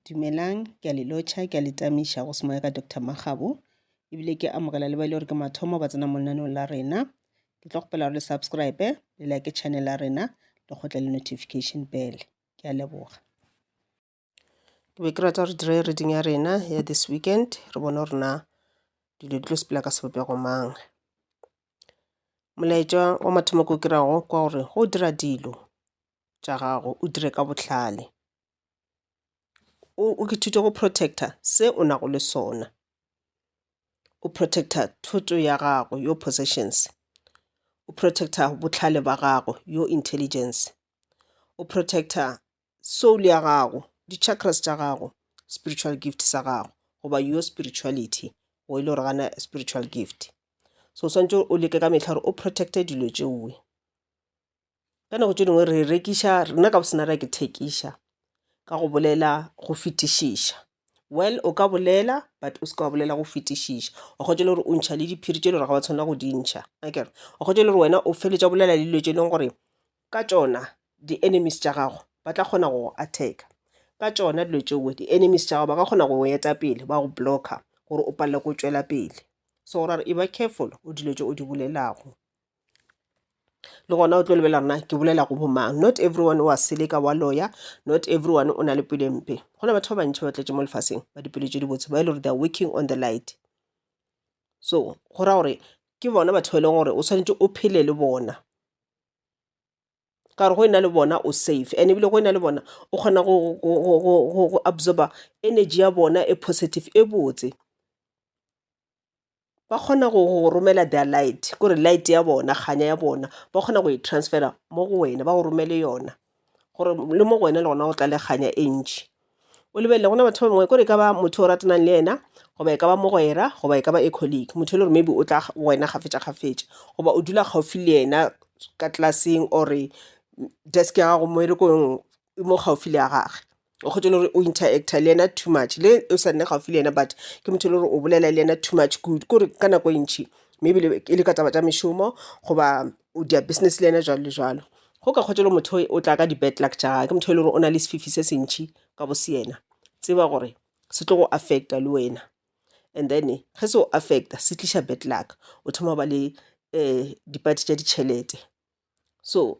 Dumelang, ke a le lotšha, ke a le tamiša go se moya ka Doctor Makgabo, ebile ke amogela le ba e le gore ke mathomo ba tsena mo lenaneong la rena. Ke tlo kgopela gore le subscribe, le like channel ya rena, le kgotle le notification bell. Ke a leboga. Ke be ke rata gore dire reading ya rena ya this weekend, re bone gore na dilo di tlo sepela ka sebopego mang. Molaetša wa mathomo ko ke rago kwa gore go dira dilo tša gago o dire ka bohlale o ithute go protect-a se o nago le sona o protect-a thoto ya gago your possessions o protect-a bohlale ba gago your intelligence o protect-a soul ya gago di chakras tša gago spiritual gift sa gago goba your spirituality o e le gore gana spiritual gift so o swantše o leke ka mehla gore o protect-e dilo tšeoe. ka nako tše dingwe re rekiša rena ka bosena ra ke thekiša ka go bolela go fetišiša well o ka bolela but o seke wa bolela go fetišiša wa kgotsa le gore o ntšha le diphiri tše le gore ga ba tshwanela go di ntšha akere wa kgotsa le gore wena o feletša bolela le dilo tše e leng gore ka tšona di-enemies tša gago ba tla kgona go attacka ka tšona dilo tšeo di-enemies tša gago ba ka kgona go eta pele ba go blocka gore o palelwe ko tšwela pele so ra re e ba careful o dilo tše o di bolelago le gona o tlo lebelela gore na ke bolela go bo mang. Not everyone wa seleka wa loya, not everyone o na le pelo e mpe. Go na batho ba bantši ba tletše mo lefaseng ba dipelo tše dibotse ba e le gore they are working on the light. So go ra gore ke bona batho ba e leng gore o swanetše o phele le bona ka gore go e na le bona o safe and ebile go e na le bona o kgona go absorber energy ya bona e positive e botse. ba kgona go go romela their light ko re light ya bona kganya ya bona ba kgona go e transferer mo go wena ba go romele yona gore le mo go wena le gona go tla le kganya e ntšhi. O lebelele go na le batho ba bangwe ko re e ka ba motho o ratanang le yena goba e ka ba mogwera goba e ka ba a colleague, motho e le gore maybe o tla go wena kgafetša kgafetša goba o dula gaufi le yena ka class-eng or-e desk ya gago mmerekong mo gaufi le ya gage o kgotse le gore o interactor le yena too much le o sa nne gaufi le yena but ke motho e le gore o bolela le yena too much kudu ke gore ka nako e ntšhi maybe le e le ka taba tša mešomo goba o dia business le yena jwalo le jwalo go ka kgotse le motho o tla ka di-bad luck tša gage ke motho e le gore o na le sefifi se sentšhi ka bo se yena tseba gore se tlo go affecta le wena and then ge se o affecta se tliša bad luck o thoma go ba le um dipati tša ditšhelete so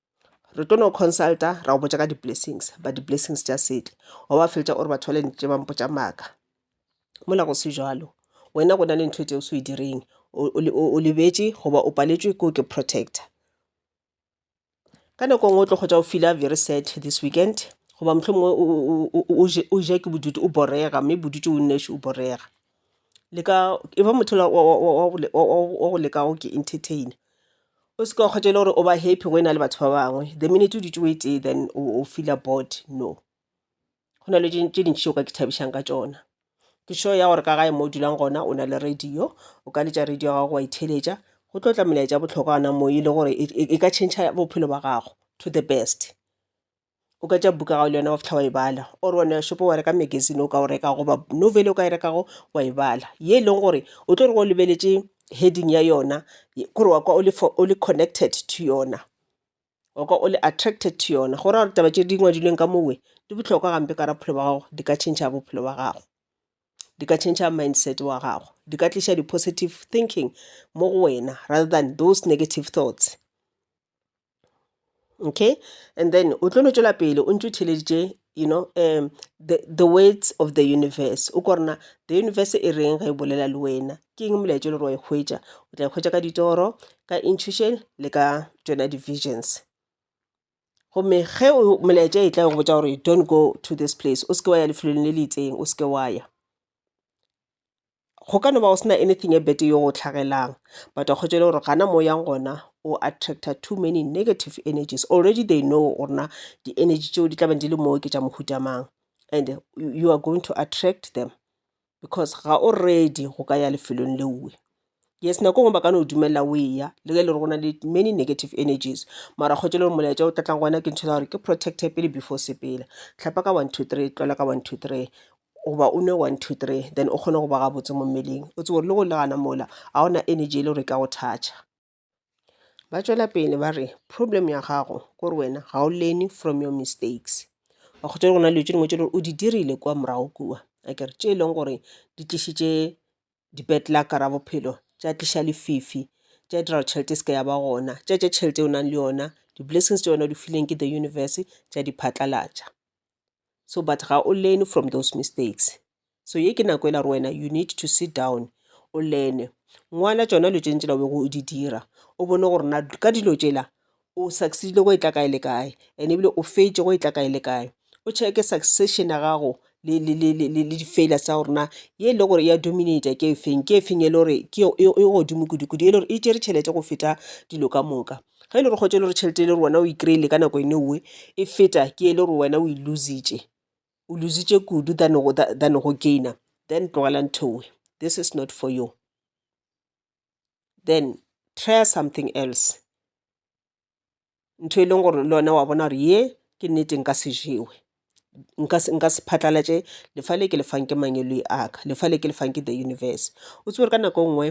re tlo no consulta ra go botša ka di-blessings but di-blessings tša sele wa ba feletša o re batho bale ntše ba mpotša maaka mola go se jalo wena go na le ntho tseo se o direng o lebetše goba o paletšwe ke o ke protector ka nako nngwe o tlo kgotsa o fila very sad this weekend goba mohlomongwe o ja ke bodutu o borega mme bodutu o nnoši o borega le ka e ba motho ola wa go leka go ke entertainer o se ke wa kgwatha e le gore o ba happy go e na le batho ba bangwe the minute o dutše o e tee then o feeler bored no. Go na le tše tše dintši tše o ka ithabišang ka tšona. Ke sure ya gore ka gae mo o dulang gona o na le radio o ka letša radio ya gago wa e theeletša go tlo tla melaetša ya bohlokwa gona moo e le gore e ka change-a bophelo ba gago to the best. o ka tšea buka ya gago le yena wa fihla wa e bala or wa no ya shopong wa reka magazine o ka o reka goba novel o ka e rekago wa e bala ye e leng gore o tlo re go lebeletše heading ya yona kore wa kwa o le connected to yona wa kwa o le attracted to yona go raya gore taba tše di ngwadilweng ka mowe di bohlokwa gampe ka bophelo ba gago di ka tšhentšha bophelo ba gago di ka tšhentšha mindset wa gago di ka tliša di-positive thinking mo go wena rather than those negative thoughts okay and then o tlo no tšwela pele o ntse o theleditše you know um the, the words of the universe o ko rena the universe e reng ge e bolela le wena ke eng molaetša le gore wa e hwetša o tla e hwetša ka ditoro ka intuition le ka tšona di-visions gomme ge molaetša e tla go botša gore don't go to this place o seke wa ya lefelong le le itseng o seke wa ya go ka no ba go sena anything e bete yo go hlagelang but a kgotšele gore gana mo yang gona o attracta too many negative energies already they know gore na di-energy tšeo di tla beng di le moo ke tša mohuta mang and you are going to attract them because ga o ready go ka ya lefelong leoe yes nako ngwe ba ka no dumelela o eya le ge e le gore go na le many negative energies mara kgotse le gore molaetša o tlatlang gona ke ntho ya gore ke protecte pele before sepela tlhapa ka one two three tlola ka one two three goba o nwe one two three then o kgone go ba gabotse mo mmeleng o tsebo le go le gana mola ga ona energy e le gore ka go thatša ba tšwela pele ba re problem ya gago ke gore wena ga o leni from your mistakes ba kgotsa go na le tse dingwe tse o di dirile kwa morago kua a kere tše e leng gore di tlišitše dipetlaka ra bophelo tša tliša lefifi tša dira tšhelete e seke ya ba gona tša tša tšhelete o nang le yona di-blessings tša yona o di fileng ke the universe tša di phatlalatša so but ga o learn from those mistakes so ye ke nako e la re wena you need to sit down o learne ngwala tšona dilo tšentšela o bego o di dira o bone gore na ka dilo tšela o succeedile go e tla kae le kae and ebile o fetše go e tla kae le kae o checke succession ya gago le di-failures tsa gore na ye e le gore ya dominate ke efeng ke efeng e le gore ke e godimo kudu-kudu e le gore e tšere tšhelete go feta dilo ka moka Ge e le gore kgotša e le gore tšhelete e le gore wena o e kry-ile ka nako ene oe e feta ke e le gore wena o e lose-itše o lose-itše kudu than go than go gain-a then tlogela ntho ewe this is not for you then try something else. Ntho e leng gore le wena wa bona gore ye ke nnete nka se jewe nka se nka se phatlalatše lefa le ke le fang ke mangwele a ka lefa le ke le fang ke the universe. O tsebe gore ka nako e nngwe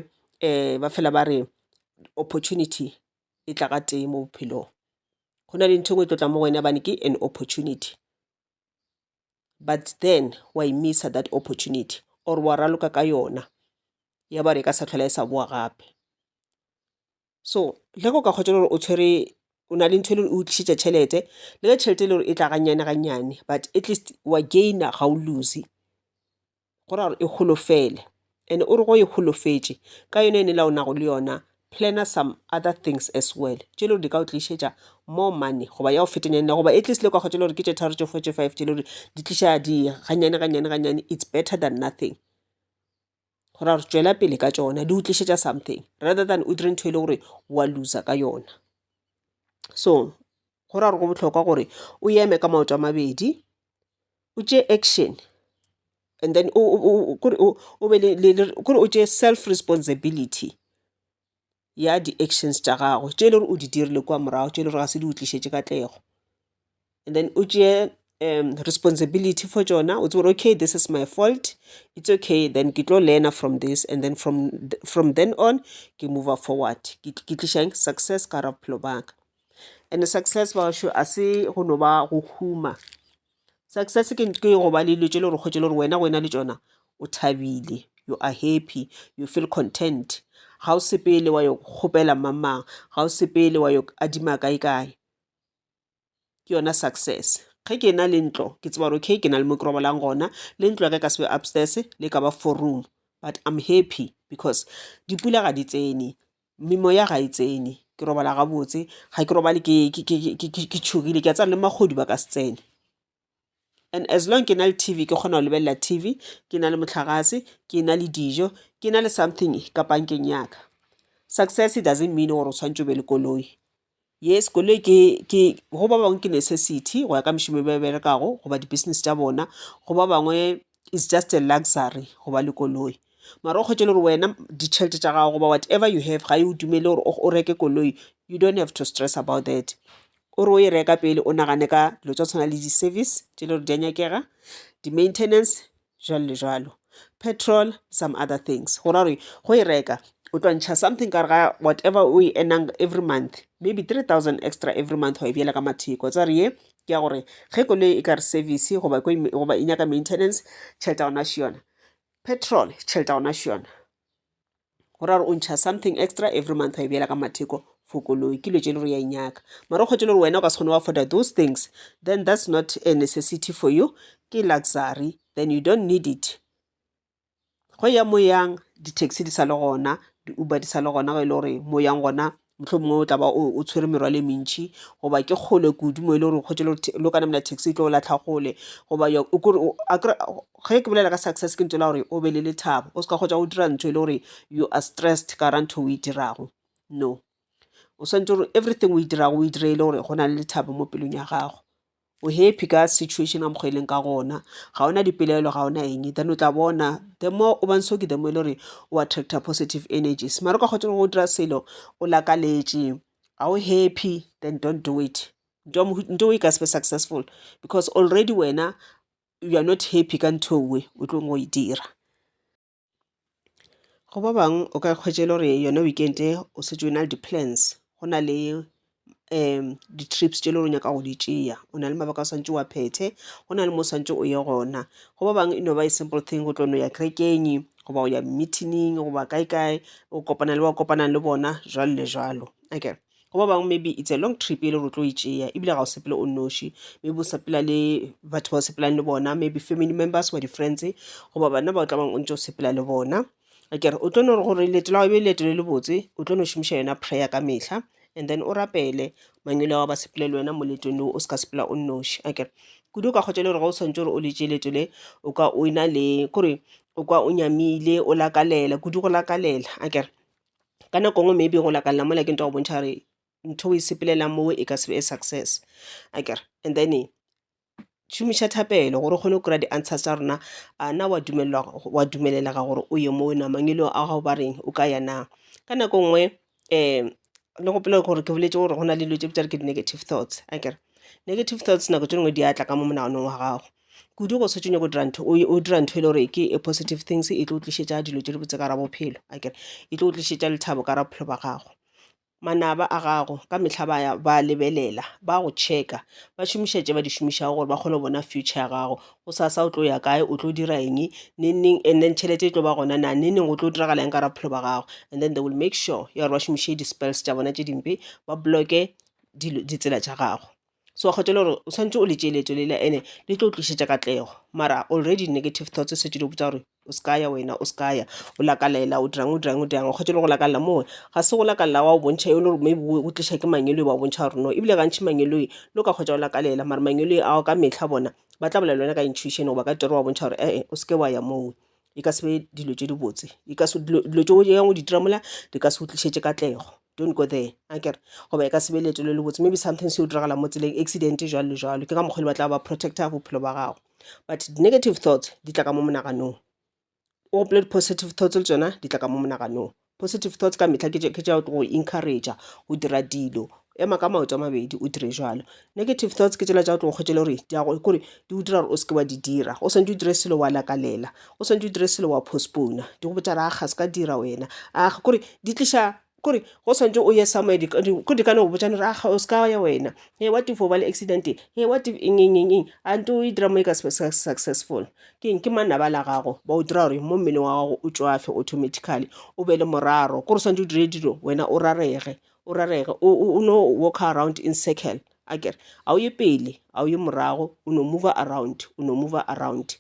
ba fela ba re opportunity e tla ga tee mo bophelong go na le ntho e nngwe e tlo tlang mo go wena gobane ke an opportunity but then wa e miss-a that opportunity or wa raloka ka yona ya ba re e ka se sa tlhola e sa bowa gape. So ge go ka kgotšwelwa gore o tshwere o na le ntho e le gore e go tlišetša tšhelete le ge tšhelete e le gore e tla gannyane gannyane but at least wa gain-a ga o lose. Go ra gore e holofele and o re go e holofetše ka yona yona e la o nago le yona plan-a some other things as well tše e le gore di ka o tlišetša more money goba ya go fetanyana le goba at least le ka kgotšwelwa gore ke tše tharo tše four tše five tše e le gore di tliša di gannyane gannyane gannyane it's better than nothing. go ra re tšwela pele ka tšona di utlišetša something rather than o dire ntho e le gore wa looser ka yona so go ra gore go bohlokwa gore o eme ka maoto a mabedi o tšee action and then o be le kore o tšee self responsibility ya di-actions tša gagwe tše e le gore o di dirile kua morago tše e le gore ga se di utlišetše katlego and then o tšee um responsibility for tšona o tsebe gore okay this is my fault it's okay then ke tlo learner from this and then from from then on ke mover forward ke tliša eng success ka gare ga bophelo ba ka and success ba bašo a se go no ba go huma. Success ke ke go ba le dilo tše le gore kgwetše le gore wena go ena le tšona o thabile you are happy you feel content ga o sepele wa yo kgopela mamang ga o sepele wa yo adima kae kae ke yona success ge ke na le ntlo ke tseba gore okay ke na le mo ke robalang gona le ntlo ya ka ka sebe upstairs le ka ba four room but I'm happy because dipula ga di tsene Memoya ga e tsene ke robala gabotse ga ke robale ke tšhogile ke a tsaya le magodu ba ka se tsene. And as long ke na le T_V ke kgona go lebelela T_V ke na le mohlagase ke na le dijo ke na le something ka pankeng ya ka. Success doesn't mean gore o tshwanetse o be le koloi Yes koloi ke ke go ba bangwe ke necessity go ya ka mešomo e ba e berekago goba di-business tša bona go ba bangwe is just a luxury go ba le koloi mara o kgwetše le gore wena ditšhelete tša gago goba whatever you have ga e o dumele gore o reke koloi you don't have to stress about that o re o e reka pele o nagane ka dilo tša go tshwana le di-service tše e le gore di a nyakega di-maintenance jwalo le jwalo petrol some other things go ra gore go e reka o tlo ntšha something ka re ga whatever o e earnang every month maybe three thousand extra every month wa e bjela ka matheko tsa re ye ke ya gore ge koloi e ka re service goba goba e nyaka maintenance tšhelete ya gona še yona petrol tšhelete ya gona še yona. go ra gore o ntšha something extra every month wa e beela ka matheko for koloi ke dilo tse e le gore ya inyaka mara o kgwetše le gore wena o ka se kgone wa afforda those things then that's not a necessity for you ke luxury then you don't need it go ya moyang di-taxi di sa le gona di-uber di sa le gona go e le gore moyang gona mohlomongwe o tla ba o tshwere merwalo e mentšhi goba ke kgole kudu mo e le gore o kgwetše lo ka namela taxi e tlo o latlha gole goba ge ke bolela ka success ke ntšwela gore o be le lethabo o se ka kgwetša o dira ntho e le gore you are stressed ka ra ntho o e dirago no o swanetše gore everything o e dirago o e dire e le gore go na le lethabo mo pelong ya gago. O happy ka situation a mokgwa e leng ka gona. Ga ona dipelaelo, ga ona eng. Then o tla bona the more o ba ntse o ke the more e le gore o attractor positive energies. Mara o ka kgotsa go dira selo o lakaletše, ga o happy then don't do it. Ntho e ka se be successful because already wena you are not happy ka ntho e o tlileng go e dira. Go ba bangwe o ka hwetša e le gore yona weekend o šetše o na le di-plans go na le di-trips tše e le gore o nyaka go di tšea. O na le mabaka o swanetše o a phethe, go na le mo o swanetše o ye gona. Go ba bangwe e no ba a simple thing go tlo no ya kerekeng goba o ya meeting-ing goba kae kae o kopana le ba o kopanang le bona jwalo le jwalo akere. go ba bangwe maybe it's a long trip e le gore tlo e tšea ebile ga o sepele o noši maybe o sepela le batho ba o sepelang le bona maybe family members wa di-friends goba bana ba o tla bang o ntse o sepela le bona akere o tlo no re gore leeto la be leeto le le botse o tlo no šomiša yona prayer ka mehla and then o rapele mangwele wa ba sepele le wena mo leetong leo o se ka sepela o noši akere kudu o ka kgotsa le gore ga o swantse gore o le tšee leeto le o ka o e na le kore o kwa o nyamile o lakalela kudu go lakalela akere ka nako nngwe maybe go lakalela mola ke nyaka go bontšha gore ntho e o e sepelelang mo e ka se be a success akere and then šomiša thapelo gore o kgone go kry-a di-answers tša rena a na wa dumelelwa wa dumelelega gore o ye moo na mangwele a gago ba reng o ka ya na ka nako nngwe um le gopole gore ke boletse gore go na le dilo tse bitsa gore ke di-negative thoughts akere negative thoughts nako tše dingwe di atla ka mo monaganong wa gago kudu go se tšenyo go dira ntho o dira ntho e le gore ke a positive things e tlo o tlišetša dilo tše di botse ka ra bophelo akere e tlo o tlišetša lethabo ka ra bophelo ba gago manaba a gago ka mehla ba ya ba lebelela ba go checka ba šomiša tše ba di šomišago gore ba kgone go bona future ya gago go sasa o tlo ya kae o tlo dira eng neneng and then tšhelete e tlo ba gona na neneng o tlo diragala eng ka ra bophelo ba gago and then they will make sure ya gore ba šomiše di-spells tša bona tše dimpe ba bloke ditsela tša gago so kgotele gore o tshwanetse o le tšee leeto lela ene le tlo tlišetša katlego mara already negative thoughts o setse di botsa gore o se ka ya wena o se ka ya o lakalela o dirang o dirang o dirang o kgotele go lakalela moo ga se go lakalela wa o bontšha e le gore maybe o tliša ke mang e le ba o bontšha gore no ebile gantšhi mang e le lo ka kgotsa o lakalela mara mang e le ao ka metlha bona ba tla bolela le wena ka intuition goba ka tiro wa bontšha gore e-e o se ke wa ya moo e ka se be dilo tše dibotse e ka se dilo dilo tše o nyakang go di dira mola di ka se go tlišetše katlego don't go there akere goba e ka se be leeto le le botse maybe something se o diragala mo tseleng accident jwalo le jwalo ke ka mokgwa le batla ba protecta bophelo ba gago but negative thoughts di tla ka mo monaganong o gopole di-positive thoughts le tsona di tla ka mo monaganong Positive thoughts ka mehla ke ke tša go encourage go dira dilo ema ka maoto a mabedi o dire jalo negative thoughts ke tsela tša go tlo kgwetšele gore di yago kore di o dira gore o seke wa di dira o swantse o dire selo wa lakalela o swantse o dire selo wa postpone di go botša re a ga se ka dira wena a ga kore di tliša kore go swantse o ye somewhere ko di ka no botsane re aga o se ka ya wena e wa tifo ba le accident e wa eng eng eng eng a nto e dira mo e ka successful Ke eng? Ke manaba la gago ba o dira gore mo mmeleng wa gago o tšwafe automatically o be le moraro kore o swantse o dire dilo wena o rarege o rarege o no walk around in circle a kere a o ye pele a o ye morago o no move around o no move around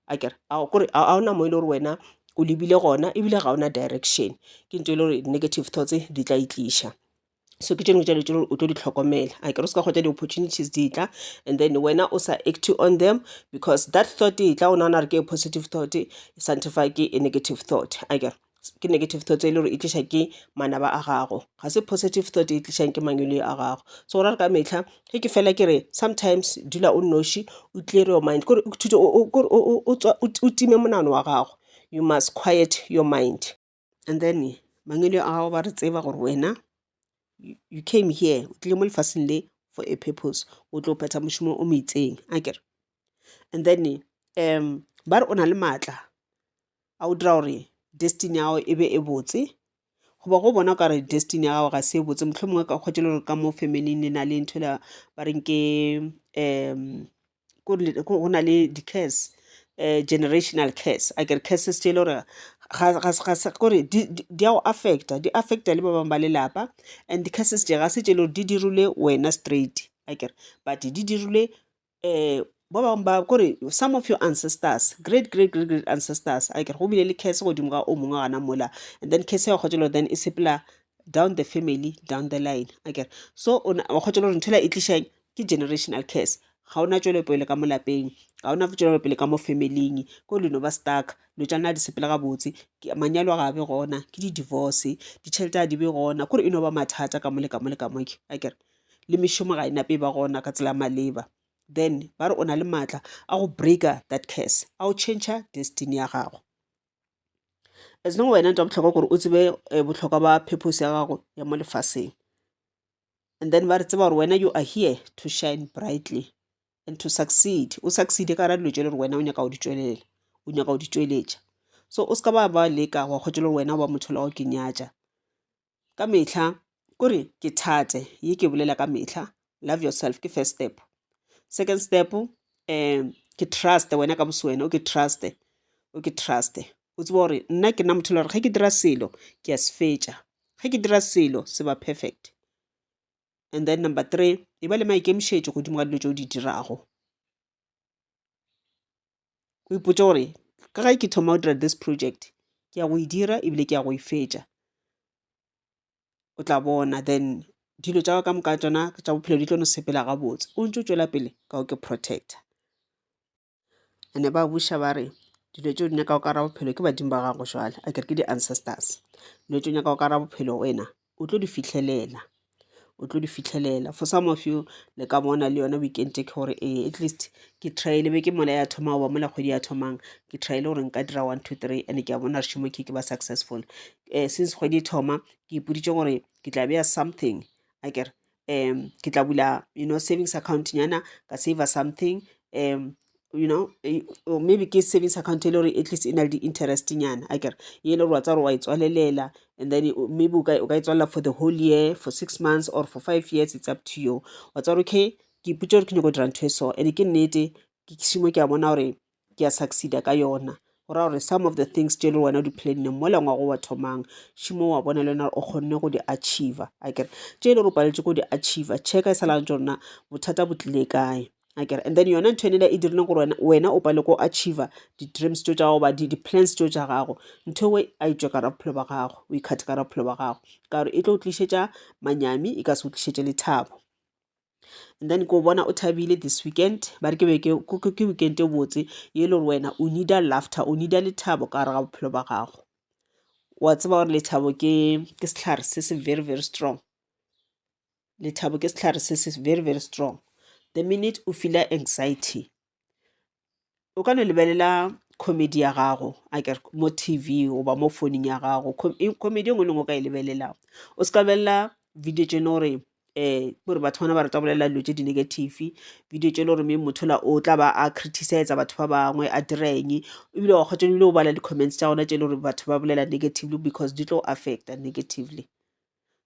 a kere kore a ona mo e le gore wena o lebile gona ebile ga ona direction ke ntho e le gore negative thoughts di tla itliša so ke tšone tšelo tše o tlo di hlokomela a kere o se ka kgotla di-opportunities di tla and then wena o sa active on them because that thought e tla o nagana gore ke positive thought e sanctify ke e negative thought a kere ke negative thought e le gore e tliša ke manaba a gago ga se positive thought e tlišang ke mangwele a gago so ra re ka metlha ge ke fela ke re sometimes dula o noši o clear your mind kore o time monano wa gago you must quiet your mind and then mangwele a gago ba re tseba gore wena you came here o tlile mo lefaseng le for a purpose o tlo phetha mošomo o mo itseng a kere and then um ba re o na le maatla a o dira gore destiny ya gago e be e botse goba go bona ka re destiny ya gago ga se e botse motlho mongwe ka kgwetele gore ka mo family le na le ntho la ba reng ke um go na le di-case um generational case a kere cases tše e le gore kore di a go affecta di affecta le ba bangwe ba lelapa and di-cases tše ga se tše e le gore di dirilwe wena straight a kere but di dirilwe um ba bangwe ba kore some of your ancestors, great great great great ancestors a kere go bile le case godimo ga o mongwe wa gona mola and then case ya kgotsa le then e sepela down the family down the line a kere so wa kgotsa le gore ntho e tliša eng ke generational curse ga ona tšwelopele ka mo lapeng ga ona tšwelopele ka mo familing ko le no ba stuck lo tša nna di sepela gabotse manyalo a ga be gona ke di-divorce ditšhelete a di be gona kore e no ba mathata ka mole ka mole ka moke a kere le mešomo ga e nape e ba gona ka tsela maleba then ba re o na le maatla a go breaker that curse a o change destiny ya gago as long wena ntwa botlhokwa gore o tsebe eh, botlhokwa ba purpose ya gago ya mo lefaseng and then ba re tseba gore wena you are here to shine brightly and to succeed o succeed ka ra dilo tšele gore wena o nyaka go di tšwelela o nyaka go di tšweletša so o seka ba ba leka wa kgotse le gore wena o ba motho la go ke nyatša ka metlha kore ke thate ye ke bolela ka metlha love yourself ke first step second step um ke trust wena ka boswena o ke trust o ke trust o tseba gore nna ke nna motho le gore ge ke dira selo ke a se fetša ge ke dira selo se ba perfect and then number three e ba le maikemišetšo godimo ga dilo tse o di dirago o ipotse gore ka ge ke thoma go dira this project ke ya go e dira ebile ke ya go e fetša o tla bona then dilo tša ka moka tsona tša bophelo di tlo no sepela gabotse o ntse o tšwela pele ka o ke protector and-e ba buša ba re dilo tše o di nyakago ka gare ga bophelo ke badimo ba gago jwale a ke re ke di-ancestors. Dilo tše o nyakago ka gare ga bophelo wena o tlo di fihlelela, o tlo di fihlelela. For some of you le ka bona le yona weekend e ke gore ee at least ke try-ile be ke mola ya thoma goba mola kgwedi ya thomang ke try-ile gore nka dira one, two, three and-e ke a bona gore šemo ke ke ba successful. Since kgwedi e thoma ke ipoditše gore ke tla beya something a ke re um ke tla bula you know savings account nyana ka saver something um you know eh, or maybe ke savings account e le gore at least e na le di-interest nyana a kere e le gore wa tsa gore wa e tswalelela and then o- maybe o ka o ka e tswalela for the whole year for six months or for five years it's up to you wa tsa gore okay ke ipotsa gore ke nyako dira ntho e so and ke nnete ke šimo ke a bona gore ke a succeeda ka yona go ra gore some of the things tše le wena di planne mo lengwa go wa thomang šimo wa bona le wena o kgonne go di achiever a kere tše e le go paletše go di achiever checka e sa lantse rona bothata bo tlile kae a kere and then yona ntho enela e dirileng gore wena wena o pale ko achiever di-dreams tso tša gago ba di-plans tso tša gago ntho ewe a e tswe kara bophelo ba gago o ikgathe kara bophelo ba gago ka gore e tlo o tlišetša manyami e ka se o tlišetše lethabo and then ko bona o thabile this weekend ba re ke be ke ke weekend e botse ye le gore wena o needa laughter o needa lethabo ka gare ga bophelo ba gago wa tseba gore lethabo ke ke setlhare se se very very strong lethabo ke setlhare se se very very strong the minute o feela anxiety o ka no lebelela comedy ya gago akere mo T_V goba mo founung ya gago comedy e nngwe le e nngwe o ka e lebelelago o se ka lebelela video tše e le gore ke gore batho bana ba rata go bolelela dilo tše di-negative video tše e le gore maybe motho yola o tla ba a criticiser batho ba bangwe a dira eng ebile wa kgotša ebile o bala di-comments tša gona tše e le gore batho ba bolela negatively because di tlo affecta negatively.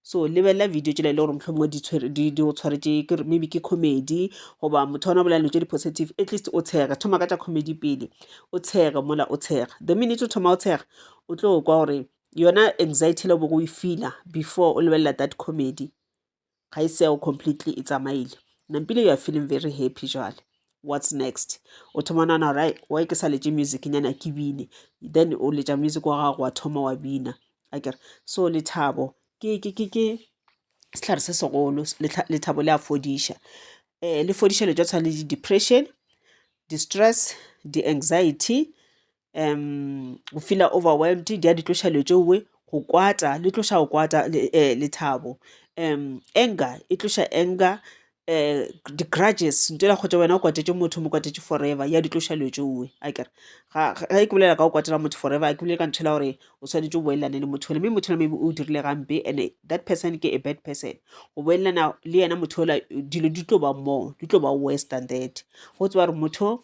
so lebelela video tšela e le gore mohlomongwe di go tshwaretše ke maybe ke comedy goba motho wa ona bolela dilo tše di-positive at least o tshega thoma ka tša comedy pele o tshega mola o tshega the minute o thoma o tshega o tlo kwa gore yona anxiety le bogo e feela before o lebelela that comedy ga e seo completely e tsamaile nampile you are feeling very happy jale what's next o thoma nana gore wy ke sa letse music nyana ke bine then o letša music wa gago wa thoma wa bina a kere so lethabo ke sehlare se segolo lethabo le a fodiša um le fodiša le tšwa tshwana le di-depression di-stress di-anxiety um go feela overwhelmed di a di tloša dilo tšeoe go kwata le tloša go kwata um lethabo um anger e tloša anger um di-grudges ntho ela kgotsa wena o kwatetše motho mo kwatetše forever ya di tloša dilo tšeoe a kere ga e ke bolela ka go kwatela motho forever a ke bolele ka ntho ela gore o swanetše o boelelane le motho ole mme motho ole maybe o dirile gampe and that person ke a bad person go boelelana le yena motho ola dilo di tlo ba more di tlo ba worse than that go tseba gore motho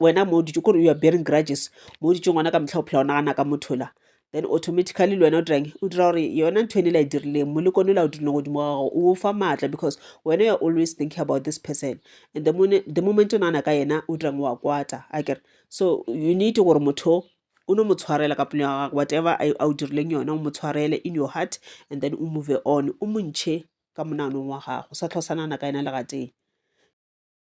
wena mo dutse kore you are bearing grudges mo dutse ngwana ka motlha o phela o nagana ka motho la then automatically le wena o dirang o dira gore yona ntho ene la e dirileng molekone la o dirileng godimo ga gago o fa maatla because wena you're always thinking about this person and the, mone, the moment o nagana ka yena o dirang wa kwata a kere so you need gore motho o no mo tshwarela ka pelo ya gagwe whatever a o dirileng yona o mo tshwarele in your heart and then o move on o montšhe ka monanong wa gago sa tlhosanana ka yena legateng